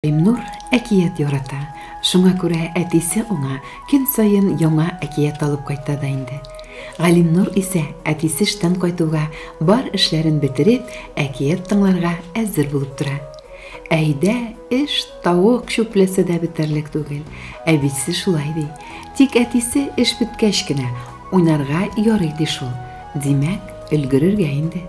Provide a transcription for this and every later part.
Илнур әкият ярата, шуңа күрә әтисе аңа көн саен яңа әкият алып кайта да инде. Галимнур исә, әтисе эштән кайтуга, бар эшләрен бетереп, әкият тыңларга әзер булып тора. Әйдә, эш, тавык чүпләсә дә бетәрлек түгел. Әбисе шулай ди. Тик әтисе эш беткәч кенә, уйнарга ярый ди шул. Димәк, өлгерергә инде.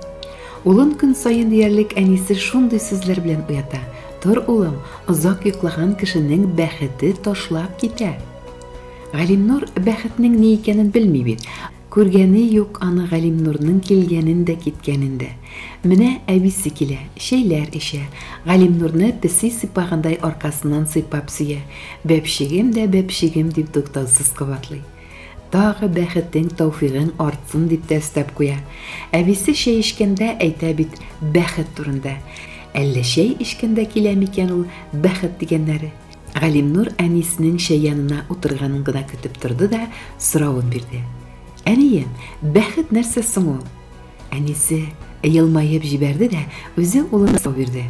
Улын көн саен диярлек әнисе шундый сүзләр белән уята. Тор, улым, озак йоклаган кешенең бәхете ташлап китә. Галимнур бәхетнең ни икәнен белми бит. Күргәне юк аны Галимнурның килгәнен дә, киткәнен дә. Менә әбисе килә, чәйләр эчә, Галимнурны песи сыйпагандай аркасыннан сыйпап сөя, бәпчегем дә бәпчегем дип туктаусыз кабатлый. Тагы бәхетең, тәүфигең артсын, дип тә өстәп куя. Әбисе чәй эчкәндә әйтә бит бәхет турында. Әллә чәй эчкәндә килә микән ул бәхет дигәннәре? Галимнур әнисенең чәй янына утырганын гына көтеп торды да соравын бирде. Әнием, бәхет нәрсә соң ул? Әнисе елмаеп җибәрде дә үзе улына сорау бирде.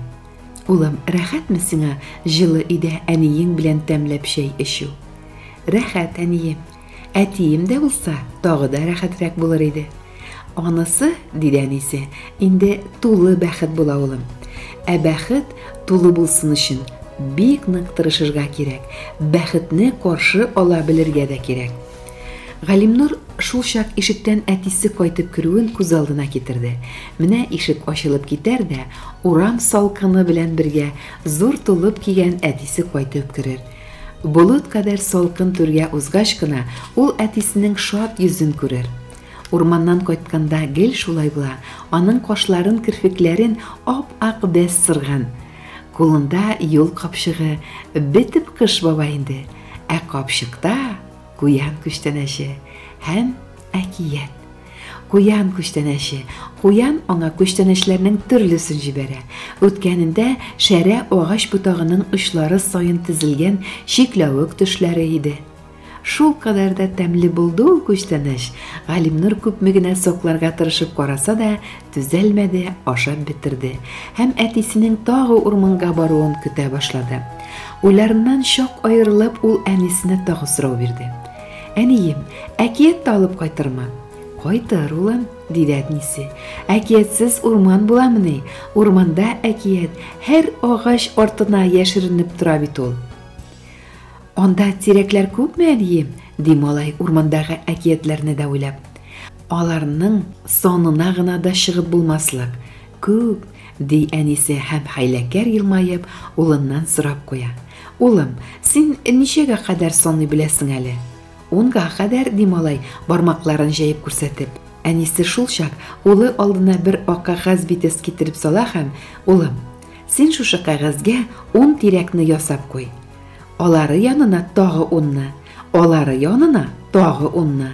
Улым, рәхәтме сиңа җылы өйдә әниең белән тәмләп чәй эчү? Рәхәт, әнием. Әтием дә булса, тагы да рәхәтрәк булыр иде. Анысы, диде әнисе, инде тулы бәхет була улым. Ә бәхет тулы булсын өчен бик нык тырышырга кирәк, бәхетне каршы ала белергә дә кирәк. Галимнур шулчак ишектән әтисе кайтып керүен күз алдына китерде. Менә ишек ачылып китәр дә, урам салкыны белән бергә зур тулып кигән әтисе кайтып керер. Болыт кадәр салкын түргә узгач кына ул әтисенең шат йөзен күрер. Урманнан кайтканда гел шулай була, аның кашларын, керфекләрен ап-ак бәс сырган. Кулында юл капчыгы, бетеп кыш баба инде, ә капчыкта Куян күчтәнәче һәм әкият. Куян күчтәнәче. Куян аңа күчтәнәчләрнең төрлесен җибәрә. Үткәнендә шәрә агач ботагының очлары саен тезелгән чикләвек төшләре иде. Шул кадәр дә тәмле булды ул күчтәнәч, Галимнур күпме генә сокларга тырышып караса да, Түзәлмәде, ашап бетерде һәм әтисенең тагы урманга баруын көтә башлады. Уйларыннан чак аерылып, ул әнисенә тагы сорау бирде. Әнием, әкият тә алып кайтырмы? Кайтыр, улым, диде әтнисе. Әкиятсез урман буламыни? Урманда әкият һәр агач артына яшеренеп тора бит ул. Анда тирәкләр күпме, әнием? ди малай урмандагы әкиятләрне дә уйлап. Аларның санына гына да чыгып булмаслык. Күп, ди әнисе һәм хәйләкәр елмаеп улыннан сорап куя. Улым, син ничәгә кадәр саный беләсең әле? Унга кадәр, ди малай, бармакларын җәеп күрсәтеп. Әнисе шулчак улы алдына бер ак кәгазь битес китереп сала һәм, Улым, син шушы кәгазьгә ун тирәкне ясап куй. Алары янына тагы унны, Алары янына тагы унны.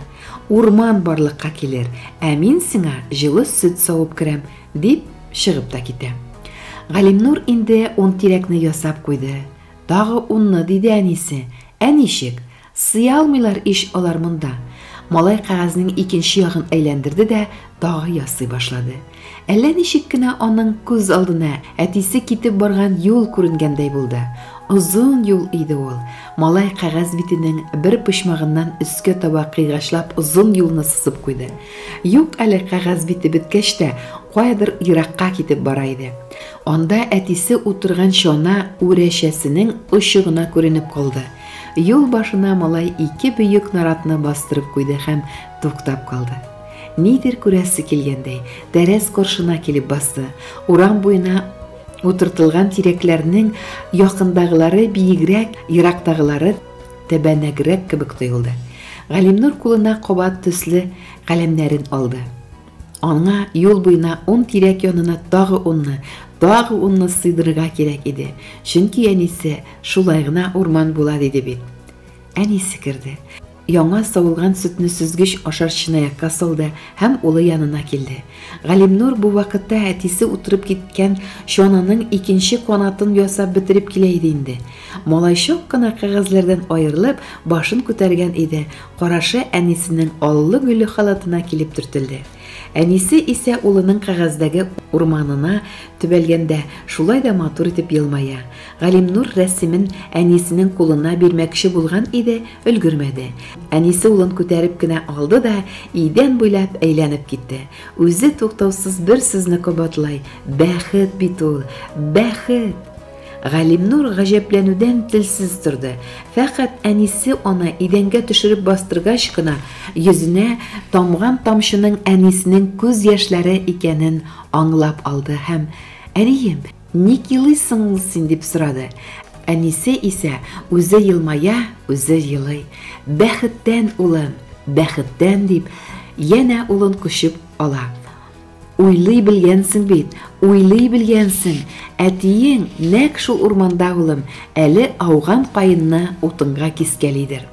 Урман барлыкка килер, ә мин сиңа җылы сөт савып керәм, дип, чыгып та китә. Галимнур инде ун тирәкне ясап куйды. Тагы унны, диде әнисе. Ә ничек? Сый алмыйлар ич алар монда. Малай кәгазьнең икенче ягын әйләндерде дә тагы ясый башлады. Әллә ничек кенә аның күз алдына әтисе китеп барган юл күренгәндәй булды. Озын юл иде ул. Малай кәгазь битенең бер почмагыннан өскә таба кыйгачлап озын юлны сызып куйды. Юк әле кәгазь бите беткәч тә, каядыр еракка китеп бара иде. Анда әтисе утырган чана үрәчәсенең очы гына күренеп калды. Юл башына малай ике бөек наратны бастырып куйды һәм туктап калды. Нидер күрәсе килгәндәй, тәрәз коршына килеп басты. Урам буена утыртылган тирәкләрнең якындагылары биегрәк, ерактагылары тәбәнәгрәк кебек тоелды. Галимнур кулына кабат төсле каләмнәрен алды. Аңа юл буена ун тирәк янына тагы унны, тагы унны сыйдырырга кирәк иде, чөнки әнисе, Шулай гына урман була, диде бит. Әнисе керде. Яңа савылган сөтне сөзгеч ашар чынаякка салды һәм улы янына килде. Галимнур бу вакытта әтисе утырып киткән чананың икенче канатын ясап бетереп килә иде инде. Малай чак кына кәгазьләрдән аерылып, башын күтәргән иде, Карашы әнисенең аллы-гөлле халатына килеп төртелде. Әнисе исә улының кәгазьдәге урманына төбәлгәндә шулай да матур итеп елмая. Галимнур рәсемен әнисенең кулына бирмәкче булган иде, өлгермәде. Әнисе улын күтәреп кенә алды да идән буйлап әйләнеп китте. Үзе туктаусыз бер сүзне кабатлай, Бәхет бит ул, бәхет! Галимнур гаҗәпләнүдән телсез торды. Фәкать әнисе аны идәнгә төшереп бастыргач кына йөзенә тамган тамчының әнисенең күз яшьләре икәнен аңлап алды һәм, Әнием, ник елыйсың ул син? дип сорады. Әнисе исә үзе елмая, үзе елый. Бәхеттән, улым, бәхеттән, дип, янә улын кочып ала. Уйлый белгәнсең бит, уйлый белгәнсең, әтиең нәкъ шул урманда, улым, әле ауган каенны утынга кискәлидер.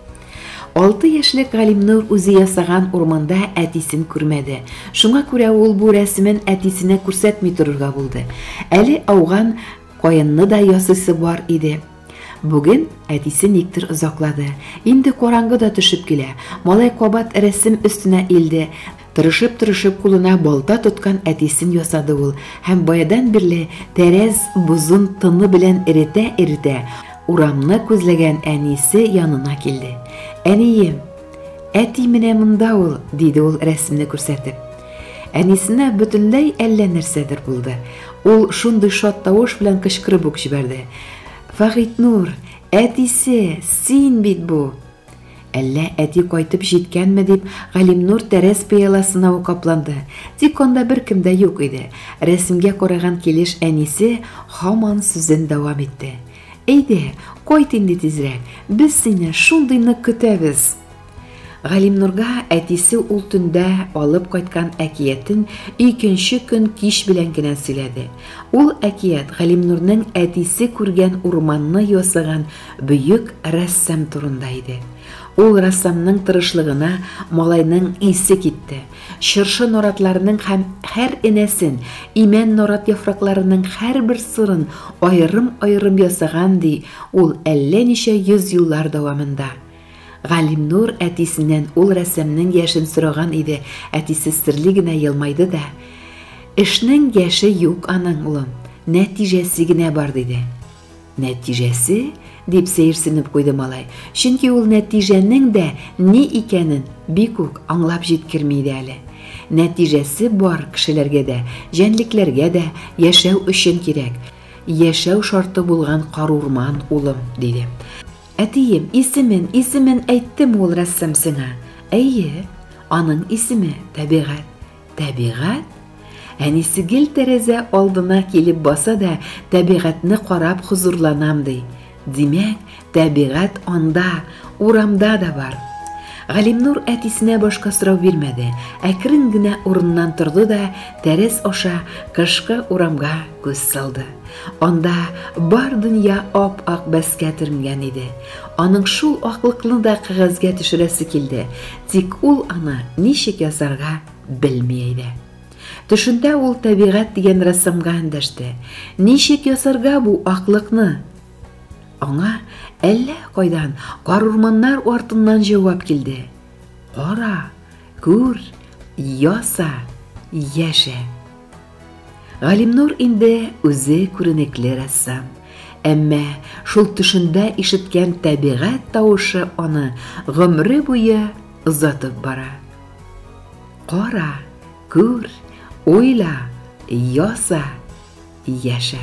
Алты яшьлек Галимнур үзе ясаган урманда әтисен күрмәде, шуңа күрә ул бу рәсемен әтисенә күрсәтми торырга булды. Әле ауган каенны да ясыйсы бар иде. Бүген әтисе никтер озаклады. Инде караңгы да төшеп килә. Малай кабат рәсем өстенә илде. Тырышып-тырышып кулына балта тоткан әтисен ясады ул һәм баядан бирле тәрәз бозын тыны белән эретә-эретә урамны күзләгән әнисе янына килде. Әнием, Әти менә монда ул, диде ул рәсемне күрсәтеп. Әнисенә бөтенләй әллә нәрсәдер булды. Ул шундый шат тавыш белән кычкырып ук җибәрде. Фагыйтнур, әтисе, син бит бу. Әллә әти кайтып җиткәнме дип, Галимнур тәрәз пыяласына ук капланды. Тик анда беркем дә юк иде. Рәсемгә караган килеш әнисе һаман сүзен дәвам итте. Әйдә, кайт инде тизрәк, без сине шундый нык көтәбез! Галимнурга әтисе ул төндә алып кайткан әкиятен икенче көн кич белән генә сөйләде. Ул әкият Галимнурның әтисе күргән урманны ясаган бөек рәссам турында иде. Ул рәссамның тырышлыгына малайның исе китте. Чыршы наратларының һәм һәр энәсен, имән нарат яфракларының һәрбер сырын аерым-аерым ясаган, ди ул әллә ничә йөз еллар дәвамында. Галимнур әтисеннән ул рәссамның яшен сораган иде, әтисе серле генә елмайды да, Эшнең яше юк аның, улым, нәтиҗәсе генә бар, диде. Нәтиҗәсе? дип сәерсенеп куйды малай, чөнки ул нәтиҗәнең дә ни икәнен бик үк аңлап җиткерми иде әле. Нәтиҗәсе бар кешеләргә дә, җәнлекләргә дә яшәү өчен кирәк, яшәү шарты булган карурман, улым, диде. Әтием, исемен, исемен әйттеме ул рәссам сиңа? Әйе, аның исеме, Табигать. Табигать? Әнисе гел тәрәзә алдына килеп баса да, табигатьне карап хозурланам ди. Димәк, табигать анда, урамда да бар. Галимнур әтисенә башка сорау бирмәде, әкрен генә урыннан торды да, тәрәз аша кышкы урамга күз салды. Анда бар дөнья ап-ак бәскә төренгән иде. Аның шул аклыкны да кәгазьгә төшерәсе килде. Тик ул аны ничек ясарга белми иде. Төшендә ул Табигать дигән рәссамга эндәште. Ничек ясарга бу аклыкны? Аңа әллә кайдан карурманнар артыннан җавап килде. Кара, күр, яса, яшә. Галимнур инде үзе күренекле рәссам. Әмма шул төшендә ишеткән табигать тавышы аны гомере буе озатып бара. Кара, күр, уйла, яса, яшә.